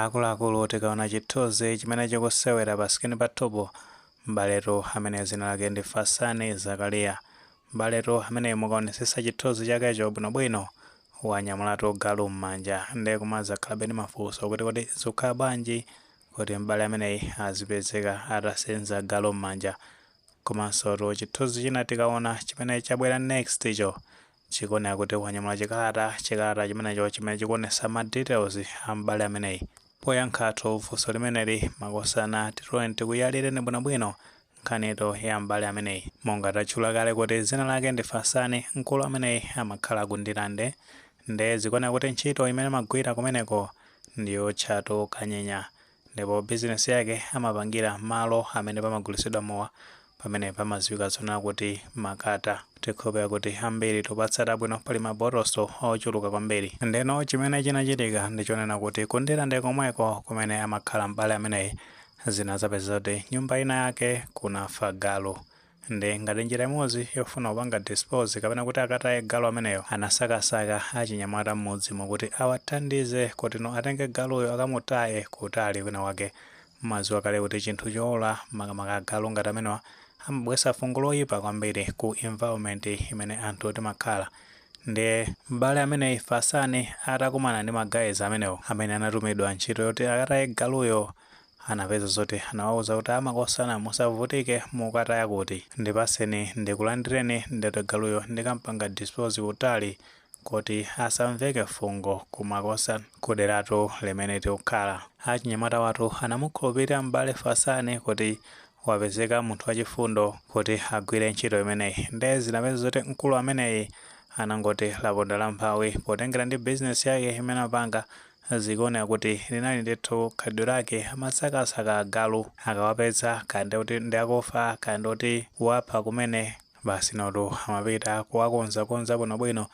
Akuluakulu tikaona chithunzi chimene chikusewera pa sikini pathupo m'baletu amene dzina lake ndi Fasani Zakaria. M'baletu ameneyu mukaonetsetsa chithunzi chakecho bwinobwino wanyamulatu galu m'manja nde kumazakhalabe ndi mafunso kuti kodi zikukhala bwanji kuti m'bale ameneyi azipezeka atasenza galu m'manja komansotu chithunzi china tikaona chimene chabwera next cho Chikuoneka kuti wanyamula chikalata, chikalata chimenecho chimene chikuonetsa ma details a m'bale ameneyi. Poyankhatu funso limeneli, makosana tiyeni tikuyalireni bwinobwino nkhanitu ya m'bale ameneyi. Monga tatchula kale kuti dzina lake ndi Fasani, mkulu ameneyi amakhala ku Ndirande nde zikuoneka kuti ntchito imene amagwira kumeneko ndi yootchatu kanyenya. ndipo bizinesi yake amapangira malo amene pamagulitsidwa mowa pamene pamadziwika zonena kuti Makata tikukhulupirira kuti ambiri tikupatsata bwino pali mabotoso ochuluka kwambiri ndeno chimene chinachitika ndichonena kuti ku Ndirande komweko kumene amakhala m'bale ameneyi zinazapeza kuti nyumba ina yake kunafa galu Nde ngati njira imodzi yofuna kupanga dispose kapena kuti akataye galu ameneyo anasakasaka achinyamata mmudzimo kuti awathandize kutino atenge galuyo akamutaye kutali kwina kwake. Mumadziwa kale kuti chinthu choola makamaka agalu ngati amenewa amabweretsa fungo loipa kwambiri ku environment imene anthu timakhala. Ndiye m'bale ameneyi Fasani atakumana ndi ma guys amenewo amene anatumidwa ntchito yoti akataye galuyo Anapeza zoti anawauza kuti amakosana musavutike mukataya kuti. Ndipatseni ndikulandireni ndekuti galuyo ndikampanga dispose kutali koti asamveke fungo kumakosa kuderatu limene tikukhala. Achinyamata awatu anamukhulupirira m'bale Fasani kuti wapezeka munthu wachifundo kuti agwire ntchito imeneyi nde zinapeza zoti mkulu ameneyi anangoti laponda lamphawi potengera ndi bizinesi yake imene amapanga Zikuoneka kuti linali ndithu khalidwe lake. Amasakasaka agalu. Akawapeza, kaya ndi oti ndi akufa, kaya ndi oti wapha kumene, basi inotu amapita kuwakonzakonza bwinobwino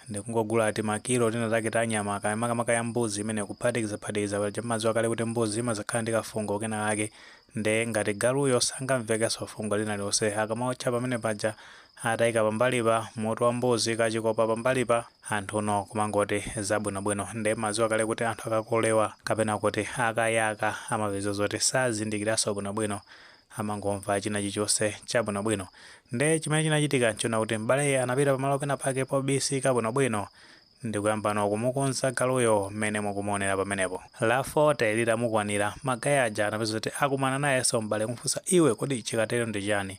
ndi kungogula timakilo tinatake ta nyama, kaya makamaka ya mbuzi imene kuphatikizaphatikiza paja mumadziwa kale kuti mbuzi imazakhala ndi kafungo kenakake nde ngati galuyo sangamvekenso fungo lina lililonse akamaotcha pamene paja ataika pambalipa mutu wa mbuzi kachikopa pambalipa anthuno kumangoti zabwinobwino nde mumadziwa kale kuti anthu akakolewa kapena kuti akayaka amapeza zoti sazindikiranso bwinobwino amangomva china chilichonse chabwinobwino nde chimene chinachitika nchonena kuti m'baleyi anapita pamalo pena pake pobisika bwinobwino ndikuyambano kumukonza galuyo mmene mukumuonera pamenepo. La 40 litamukwanira, magayi aja anapeza kuti akumana nayenso m'bale kumufunsa iwe kodi chikatero ndi chiyani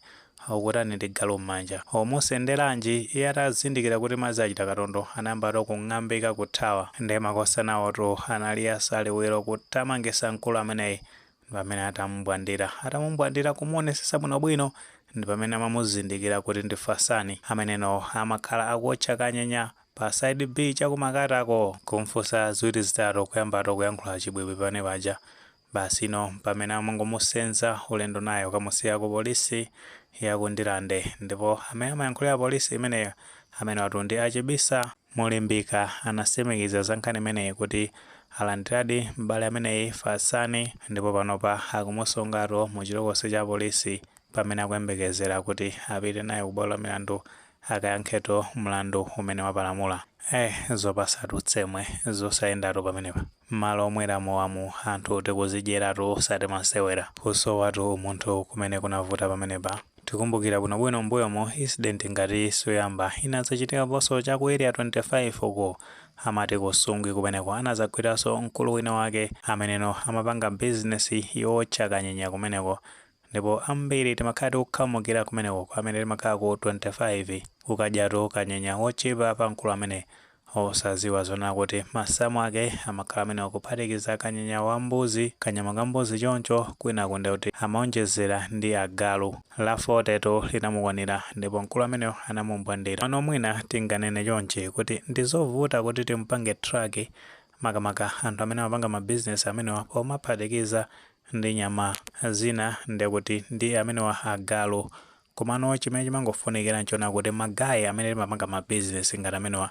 ukutani ndi galu mmanja? Ukumusenderanji? Iye atazindikira kuti madzi achita katondo, anayambano kung'ambika kuthawa. Ndiye makosanawotu anali asaliwiro kutamangisa mkulu ameneyi pamene atamumbwandira atamumbwandira kumuonesesa bwinobwino ndi pamene amamuzindikira kuti ndi Fatsani ameneno amakhala akuotcha kanyenya pa side b cha ku Makatako kumfunsa ziwiri zitatu kuyambatu kuyankhula chibwibwi pamene paja basi ndi pamene amangomusenza ulendo naye kukamusiya ku polisi ya ku Ndirande ndipo amene amayankhulira polisi imeneyo amenewatu ndi a Chibisa Mulimbika anasimikiza za nkhani imeneyi kuti alandiradi m'bale ameneyi, Fatsani, ndipo panopa akumusungatu mu chitolokosi cha apolisi pamene akuyembekezera kuti apite naye ku bwalo la milandu akayankhetu mlandu umene wapalamula. Eeh zopasatu tsemwe, zosayendatu pamenepa. Mmalo omwera mowawa mu anthu tikuzidyeratu osati masewera. Kusowatu umunthu kumene kunavuta pamenepa. Tikumbukira bwinobwino mmbuyomo incident ngati iyi siyoyamba inadzachitikaponso cha ku area 25 uku amati ku Nsungwi kumeneko anadzagwiranso mkulu wina wake ameneno amapanga business yowotcha kanyenya kumeneko ndipo ambiri timakhala tikukhamukira kumeneko kwa amene timakhala ku 25 kukadyatu kanyenya wotchipa pa mkulu amene Osadziwa zonena kuti masamu ake amakhala amenewo kuphatikiza kanyenya wa mbuzi, kanyama ka mbuzi choncho, kwinaku ndiye kuti amaonjezera ndi agalu. La 40 tu linamukwanira ndipo mkulu ameneyo anamumbwandira. Pano mwina tinganene chonchi kuti ndi zovuta kuti timpange track makamaka anthu amene amapanga ma business amenewa pomaphatikiza ndi nyama zina ndiye kuti ndi amenewa agalu. Komano chimene chimangofunikira nchonena kuti ma guy amene timapanga ma business ngati amenewa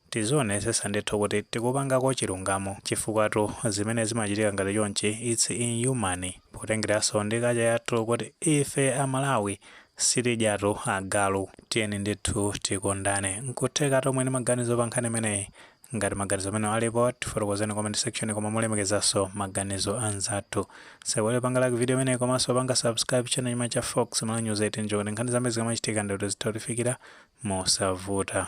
tizionesesa ndithu kuti tikupangako chilungamo chifukwatu zimene zimachitika ngati chonchi its inhuman potengeranso ndi culture yathu kuti ife a Malawi sitidyatu agalu tiyeni ndithu tikondane. Nkuthekatu muli ndi maganizo pa nkhani imeneyi Ngati maganizo amenewa alipo, tifotokozereni mu comment section koma molemekezanso maganizo anzathu. Osaiwala kupanga like video imeneyi komanso kupanga subscribe channel chino cha Fox Malawi News ndi cholinga choti nkhani zambiri zikamachitika ndi kuti zitha kukufikirani mosavuta.